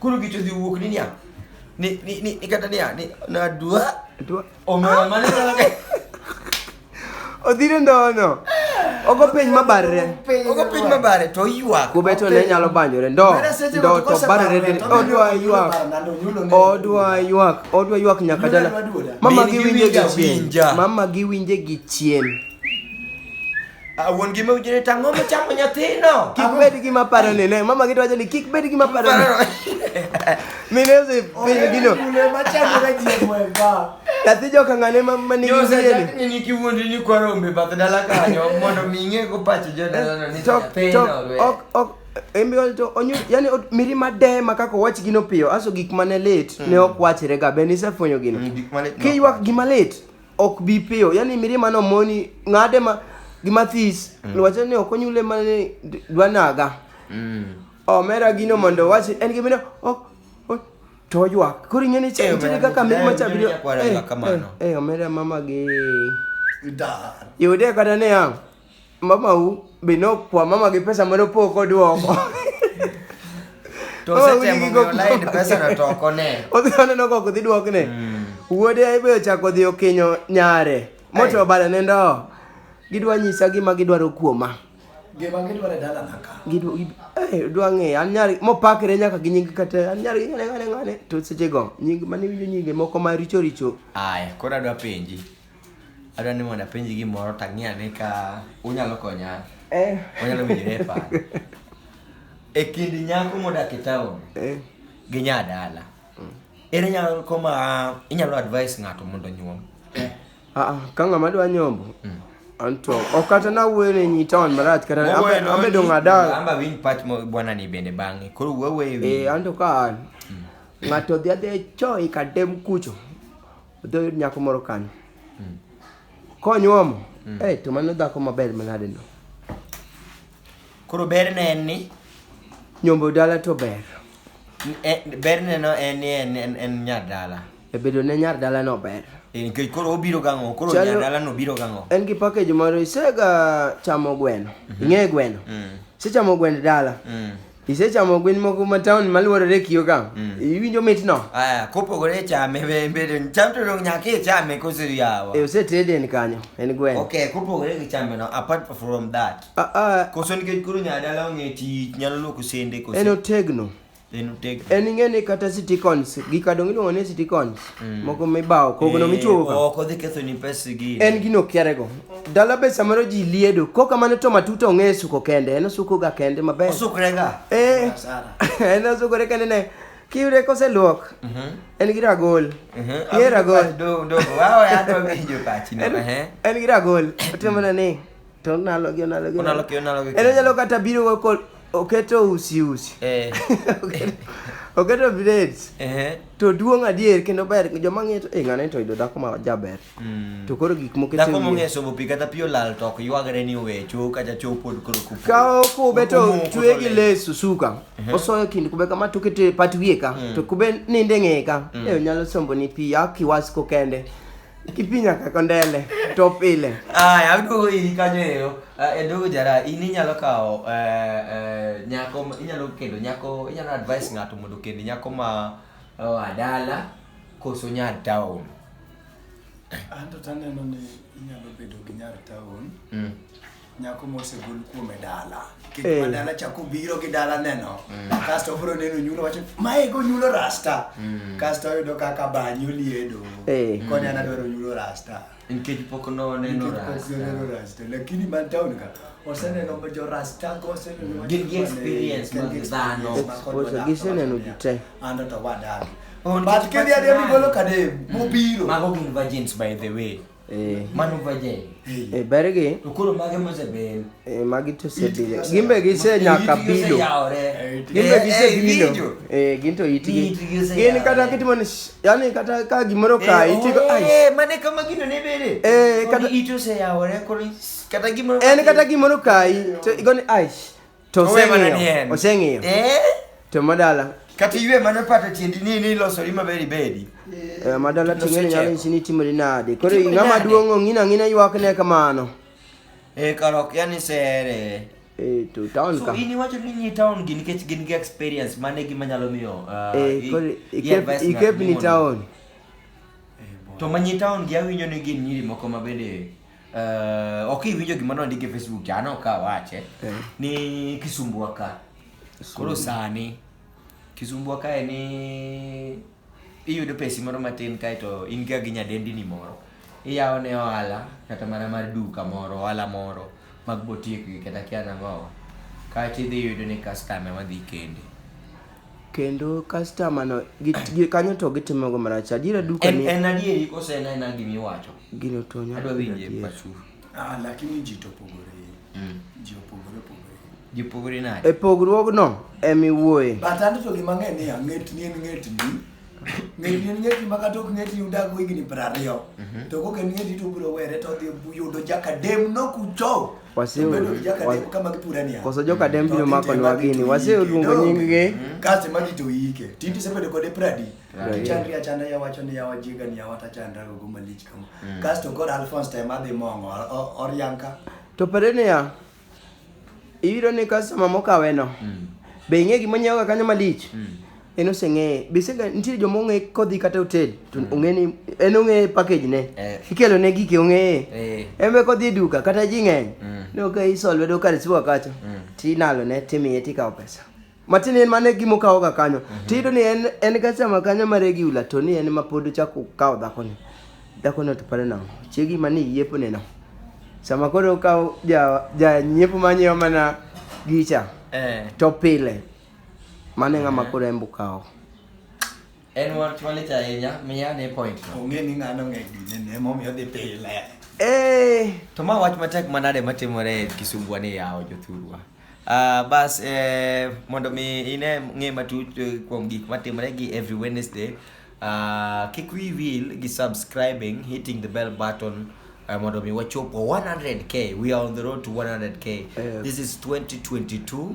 Koro gicho dhi wuok ni niya. Ni ni ni ni kata niya ni na dua. Dua. Omera mane na ke. Odhire ndono. Ogo piny mabarre. Ogo piny mabare to ywak. Kubeto ne nyalo banyore ndo. Ndo to barre de odwa ywak. Odwa ywak. Odwa ywak nyaka dala. Mama giwinje gi chien. Mama giwinje gi chien. Ah, wuon gi mawinjo ni tang'o mochamo nyathino. Kik bed gi maparo ni ne mama gito wacho ni kik bed gi maparo ni. Mine ose piny gino. Mune machamo ka ji mwega. Nyathi joka ng'ane ma ma nigi Jose wiye ni. Jack ni niki wuondi ni kwa rombe bath dala kanyo mondo mi ing'e go pach jodalano ni Tok tok nyathino. ok ok embe ol to onyu yani ot- miri made ma kaka wach gino piyo aso gik mane lit ne ok wachre ga be nisefwenyo gino. Mm, gik mane- Kiywak gima lit ok bi piyo yani mirima no moni ng'ade ma gimathis mm. lwache ni ok onyule mane dwanaga mm. omera gino mondo wachi en gi mine ok to oywak koro ing'e ni eh, nitiere kaka mirima cha biro eh, eh, eh omera mama gi yude kata niya Mamau be nokwa mama gi pesa mane opok oduoko. To Mama udi osetemo gi miyo koko. lain pesano to ok one. Odhi oneno kok odhi duokne. Wuode ibe ochako odhi okinyo nyare. Moto Ai. obale ne ndo. Gidwa nyisa gima gidwaro kuoma. Gima gidwaro e dalana ka. Gidwa gid- eh, dwa ng'eyo an nyar mopakre nyaka gi nying kata an nyar ng'ane ng'ane ng'ane to sechego nying mane winjo nyinge moko ma richo richo Aya, koro adwa penji. Adwa ni mondo apenji gimoro to ang'i ane ka unyalo konya. Eh. Onyalo miyo refa. E kind nyako modak e taon Eh. gi nya dala. Ere nyako ma inyalo advise ng'ato mondo onyuom? Ah, ah, ka ng'ama dwa nyombo Mm. anto ok kata nawuoyo ne nyi taon marach kata Wawe abe- no abedo ni- ng'ada Amba winj pach mo bwana ni bende bang'e. Koro wawe e eh, anto ka an ng'ato dhi adhi e choi kadem kucho Odhi oyud nyako moro kanyo. Mm. Konyuomo. Mm. Eh, to mano dhako maber manade no. Koro ber ne en ni nyombo dala to ber. E, ber ne no en ni en en, en nyar dala. E bedo ne nyar dala no ber. E, nikech koro obiro gang'o, koro nyar dala no biro gang'o. En gi package moro isega chamo gweno. Mm -hmm. Ing'e gweno. Mm. Sechamo gwend dala. Mm. Isechamo gwen moko ma town malworore e kio ka? Mm. Iwinjo mitno? Aya, kopogore chame bende cham to dong nyaka ichame koso yawa. E osetede en kanyo, en gwen. Okay, kopogore gi chame no apart from that. Ah ah. Koso nikech koro nyadala ong'e tich nyalo loko sende koso. En otegno. En otegno. En ing'e ni kata sitikons, gika dong iluongo ni sitikons. Mm. mogo mibawo kogno eh, michuogoga ok odhi kethoni pes gi en gino okiarego dala be samoro ji liedo koka mane to matuta ong'e suko kende en osukoga kende maber osukrega eh, en osukore kende ne kiyude koseluok mhm. en gi ragol mhm. ye ragol en gi ragol otimona ni To onalogi, onalogi. Onalogi, onalogi. En onyalo kata biro go kod oketo usi usi. Eh. oketo braids. Eh. To duong' adier kendo ber joma ng'eyo to eh ng'ane to yudo dhako ma jaber. Mm. To koro gik moko Dhako mong'eyo sobo pi kata pi olal to ok ywagre ni owe chuo kata chuo pod koro kupu. Kawo kube to chwe gi leso suka. Uh-huh. Osoyo kind kube kama to kete pat wiye ka. Mm. To kube ninde ng'eye ka. Mm. Eh onyalo sombo ni pi akiwas ko kende. Kipi nyaka kondele to pile. Aya, aduogo iri kanyo eyo. Eh, Edogo jara, in inyalo kawo eh, eh, nyako, ma- inyalo kendo nyako, inyalo advise ng'ato mondo kendo nyako ma oh, adala koso nya town. Anto taneno ni inyalo bedo gi nyar taon Mm. Nyako mosegol kuome dala. Kik Eh. ma dala chako biro gi dala neno. Kasto obiro neno nyulo wacho, mae go nyulo rasta. Kasto oyudo kaka banyo liedo. Eh. Koni an adwaro nyulo rasta. Nikech pok noneno Nikech pok rasta. noneno rasta. Lakini man town ka, oseneno ma jo rasta go, oseneno ma Gin gi jo- experience gin mag gi dhano. experience mag kod Exposure, giseneno ji te. An to wadagi. Oh, But nikech kidhi adhi pok gigolo kadem, mobiro. Mago gin virgins by the way. Eh. Mano virgin. Eh, bergi. To koro mage mosebel. Eh, magi to sebile. Gimbe gise nyaka bilo. Gimbe eh, gise eh, bilo. Eh, ginto itigi. Gin kata kitimo ni yani kata ka gimoro ka itigo ai. Eh, mane kama gino ne bere. Eh, kata ito se yawore koro kata gimoro. En kata gimoro kai to igoni ai. To Owe mana ni oseng'iyo. en. Oseng'iyo. Eh? To madala. Kata iwe mana pato tiendi ni ni ilosori maber ibedi. Eh, madala Loso ting'eni nyalo cheko. nyisi ni timori nade. Koro Timori ng'ama nade? duong' ong'ina ang'ina ywakne kamano. Eh, karok yani sere. Eh, to town So ka. in iwacho ni nyi town gi nikech gin gi experience mane gima nyalo miyo ah, Eh, i- koro i ikep- advise ng'ato ikep ni mondo- town. To ma nyi town gi awinjo ni gin nyiri moko ma bende Uh, ok iwinjo gima nondik e Facebook cha anok ka awache Eh. ni kisumbwa ka koro sani kisumbwa kae ni iyudo pesi moro matin kae to in ga gi nyadendini moro iyawo ne ohala kata mana mar duka moro ohala moro mag botiekgi kata kia nang'owa kae to idhi yudo ni kastame madhi kende Kendo customer no gi gi kanyo to gitimo go marach. Adiera duka En ni en adieri kose en aena gima iwacho. gino to nyaka Adwa bed winje adier. pachu. Ah, lakini ji to opogore. Ji opogore opogore. Ji pogore nade? E pogruogno ema iwuoye. But anto to gima ng'e ni ang'et ni en ng'et ni. Ng'et ni en ng'et ni maka tok ng'et ni udago higni piero ariyo. To kok en ng'et ni to ubiro were to odhi yudo jakadem no kucho. koso joka dembi nomako nwa gini waseluongo nyinggi kase magi to ike tindi sebedo kode pradi chandri achanda ya wacho ni yawa jiga ni yawa tachandra gogo malich kama mm. kasto kod alphonse time adhi mongo oryanka to pare niya iyudo ni customer mokaweno mm. be ing'e gima nyiewoga kanyo malich mm. en oseng'eye bisega nitie joma ong'e kodhi kata hotel to mm. ong'e ni en ong'e package ne eh. ikelo ne gike ong'eye eh. en be kodhi e duka kata ji ng'eny mm. no ka iso lwedo kar siwa kacha mm. tinalo ne timiye tikawo pesa matin en mane gima okawo ga kanyo mm-hmm. tiyudo ni en en ga sama kanyo ma regular to ni en ma pod ochako kawo dhako ni dhako no to pare nang'o chiegi ma ni yiepo ne no sama koro okawo ja ja nyiepo ma nyiewo mana gicha eh. to pile Mane ng'ama eh. koro embo kawo. En wach malich ahinya, miya ne point. Ong'e ni ng'ano ng'eny dine ne momiyo dhi pile. Eh, to ma wach matek manade matimore e Kisumbwa ni yawo jothurwa. Uh, bas eh, mondo mi ine ng'e matut eh, kuom gik matimore gi every Wednesday uh, kik wi wil gi subscribing hitting the bell button uh, mondo mi wachopo 100k we are on the road to 100k yes. this is 2022